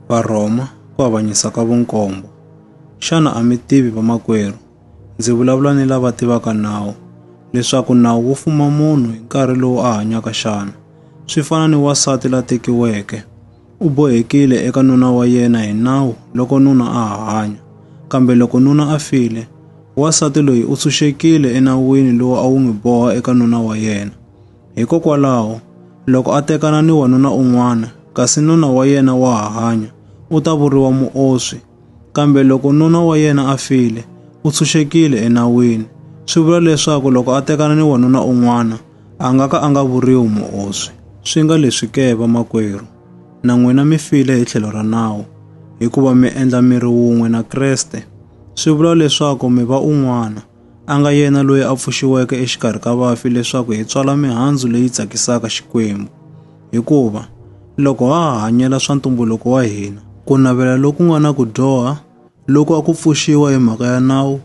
Varhoma ku avanyisa ka vunkombo. Xana a mi tivi vamakwerhu? Ndzi vulavula ni lava tivaka nawu leswaku nawu wu fuma munhu hi nkarhi lowu a hanyaka xana. Swi fana ni wasati la tekiweke. U bohekile eka nuna wa yena hi nawu loko nuna a ha hanya. Kambe loko nuna a file, wasati loyi u tshunxekile enawini lowu a wu n'wi boha eka nuna wa yena. Hikokwalaho, loko a tekana ni wanuna un'wana, kasi nuna wa yena wa ha hanya, u ta vuriwa muoswi. Kambe loko nuna wa yena a file, u tshunxekile enawini. Swi vula leswaku loko a tekana ni wanuna un'wana, a nga ka a nga vuriwi muoswi. Swi nga leswi ke, vamakwerhu, na n'wina mi file hi tlhelo ra nawu, hikuva mi endla miri wun'we na Kreste, swi vula leswaku mi va un'wana. a nga yena loyi a pfuxiweke exikarhi ka vafi leswaku hi tswala mihandzu leyi tsakisaka Xikwembu. Hikuva loko ha ha hanyela swa ntumbuluko wa hina, ku navela loku nga na ku dyoha loku a ku pfuxiwa hi mhaka ya nawu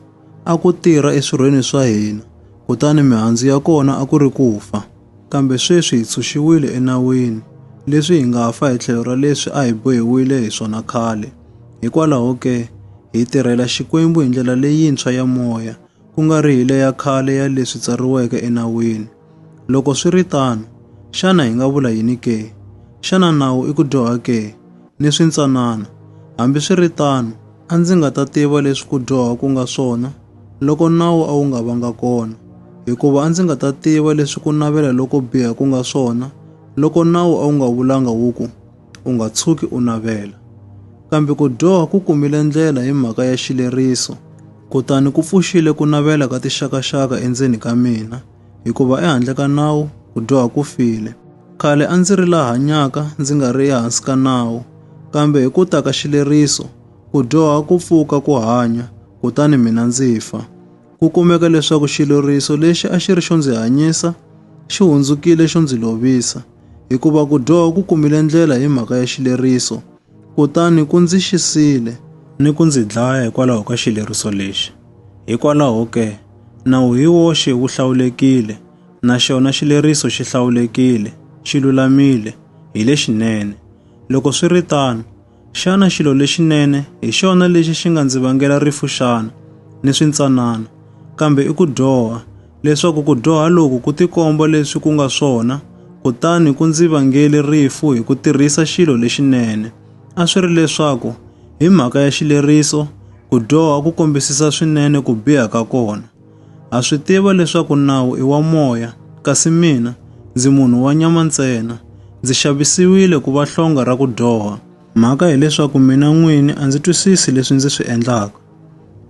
a ku tirha eswirhweni swa hina, kutani mihandzu ya kona a ku ri ku fa. Kambe sweswi hi tshunxiwile enawini, leswi hi nga fa hi tlhelo ra leswi a hi bohiwile hi swona khale. Hikwalaho ke, hi tirhela Xikwembu hi ndlela leyintshwa ya moya, ku nga ri hi leya khale ya leswi tsariweke enawini. Loko swi ri tano, xana hi nga vula yini ke? Xana nawu i ku dyoha ke? ni swintsanana. Hambiswiritano, a ndzi nga ta tiva leswi ku dyoha ku nga swona loko nawu a wu nga vanga kona, hikuva a ndzi nga ta tiva leswi ku navela loko biha ku nga swona loko nawu a wu nga vulanga wu ku, U nga tshuki u navela. Kambe ku dyoha ku kumile ndlela hi mhaka ya xileriso, kutani ku pfuxile ku navela ka tixakaxaka endzeni ka mina. hikuva ehandle ka nawu ku dyoha ku file. Khale a ndzi ri la hanyaka ndzi nga ri ehansi ka nawu, kambe hi ku ta ka xileriso ku dyoha ku pfuka ku hanya, kutani mina ndzi fa. Ku kumeka leswaku xileriso lexi a xi ri xo ndzi hanyisa xi hundzukile xo ndzi lovisa, hikuva ku dyoha ku kumile ndlela hi mhaka ya xileriso, kutani ku ndzi xisile ni ku ndzi dlaya hikwalaho ka xileriso lexi. Hikwalaho ke, nawu hi woxe wu hlawulekile, na xona xileriso xi hlawulekile, xi lulamile, hi lexinene. Loko swi ri tano, xana xilo lexinene hi xona lexi xi nga ndzi vangela rifu xana, ni swintsanana, kambe i ku dyoha, leswaku ku dyoha loku ku tikomba leswi ku nga swona, kutani ku ndzi vangele rifu hi ku tirhisa xilo lexinene? A swi ri leswaku hi mhaka ya xileriso, ku dyoha ku kombisisa swinene ku biha ka kona. Ha swi tiva leswaku nawu i wa moya, kasi mina ndzi munhu wa nyama ntsena. Ndzi xavisiwile ku va hlonga ra ku dyoha. Mhaka hileswaku mina n'wini a ndzi twisisi leswi ndzi swi endlaka,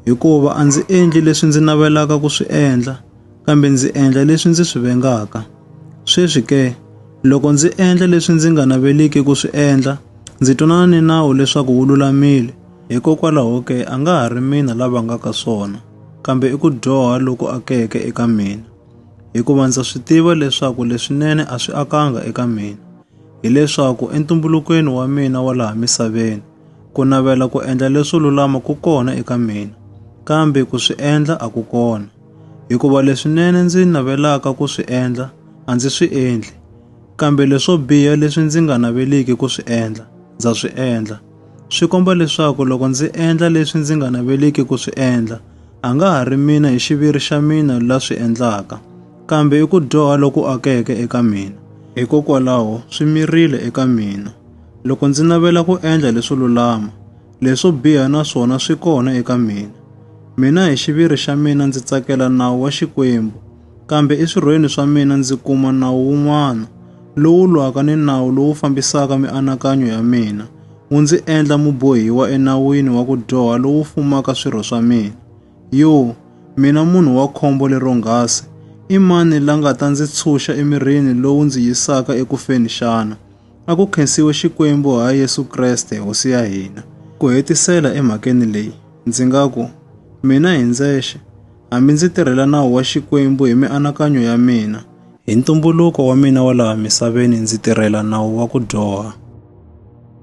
hikuva a ndzi endli leswi ndzi navelaka ku swi endla. kambe ndzi endla leswi ndzi swi vengaka. Sweswi ke, loko ndzi endla leswi ndzi nga naveliki ku swi endla, ndzi twanana ni nawu leswaku wu lulamile. Hikokwalaho ke, a nga ha ri mina la vangaka swona, kambe i ku dyoha loku akeke eka mina. Hikuva ndza swi tiva leswaku leswinene a swi akanga eka mina, hileswaku entumbulukweni wa mina wa laha misaveni, ku navela ku endla leswo lulama ku kona eka mina, kambe ku swi endla a ku kona. Hikuva leswinene ndzi navelaka ku swi endla a ndzi swi endli, kambe leswo biha leswi ndzi nga naveliki ku swi endla ndza swi endla. Swi komba leswaku loko ndzi endla leswi ndzi nga naveliki ku swi endla, a nga ha ri mina hi xiviri xa mina la swi endlaka, kambe i ku dyoha loku akeke eka mina. Hikokwalaho swi mirile eka mina, loko ndzi navela ku endla leswo lulama, Leswo biha na swona swi kona eka mina. Mina hi xiviri xa mina ndzi tsakela nawu wa Xikwembu, kambe eswirhweni swa mina ndzi kuma nawu wun'wana, lowu lwaka ni nawu lowu fambisaka mianakanyo ya mina, wu ndzi endla mubohiwa enawini wa ku dyoha lowu fumaka swirho swa mina. Yo, mina munhu wa khombo leronghasi, i mani la nga ta ndzi tshunxa emirini lowu ndzi yisaka ekufeni xana? A ku khensiwe Xikwembu ha Yesu Kreste Hosi ya hina. Ku hetisela emhakeni leyi, ndzi nga ku, mina hi ndzexe, hambi ndzi tirhela nawu wa Xikwembu hi mianakanyo ya mina, hi ntumbuluko wa mina wa laha misaveni ndzi tirhela nawu wa ku dyoha.